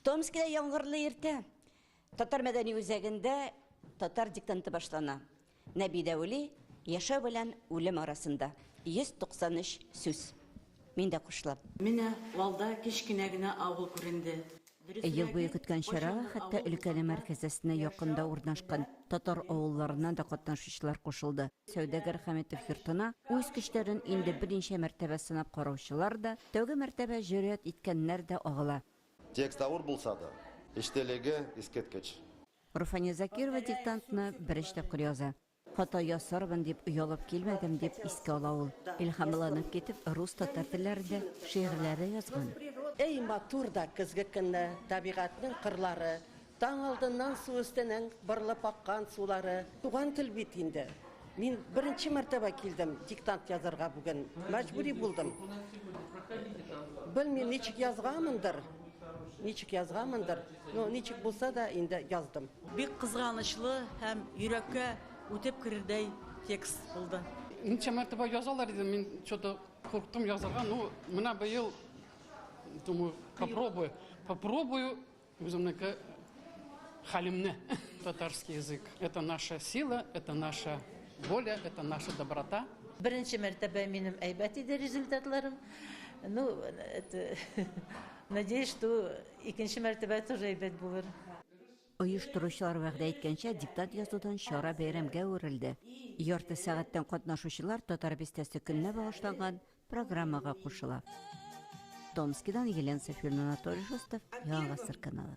Томскида яңгырлы иртә. Татар мәдәни үзәгендә татар диктанты башлана. Нәби Дәүли яшәү белән үлем арасында. 193 сүз. Мин дә кушылам. Менә алда кечкенә генә авыл күренде. Ел буе көткән чара хәтта өлкәнең мәркәзәсенә якын да урнашкан татар авылларыннан да катнашучылар кушылды. Сәүдәгәр Хәмитов йортына үз көчләрен инде берничә мәртәбә сынап караучылар да, тәүге мәртәбә җөрьәт иткәннәр дә агыла. Текст авыр булса да, эчтәлеге искиткеч. Руфания Закирова диктантны беренче тапкыр яза. Хата ясармын дип оялып килмәдем, дип искә ала ул. Илһамланып китеп, рус-татар телләрендә шигырьләр дә язган. Әй матур да көзге көнне, табигатьнең кырлары, Таң алдыннан су өстенең бырылып аккан сулары. Туган тел бит инде. Мин беренче мәртәбә килдем диктант язарга бүген. Мәҗбүри булдым. Белмим, ничек язганмындыр, ничек язганмындыр, но ничек булса да инде яздым. Бик кызганычлы һәм йөрәккә үтеп керердәй текст булды. Ничә мәртәбә язалар диде, мин чо-то курыктым язарга, ну, менә быел, думаю, попробую, попробую Үземнеке хәлемне татарский язык это наша сила, это наша воля, это наша доброта. Беренче мәртәбә минем әйбәт иде результатларым. Ну, это... Надеюсь, что икенче мәртәбә тоже әйбәт булыр. Оештыручылар вәгъдә иткәнчә диктат язудан чара бәйрәмгә үрелде. Ярты сәгатьтән катнашучылар Татар бистәсе көненә багышланган программага кушыла. Томскидан Елена Сафирна Анатолий Шустов, Яңа Гасыр каналы.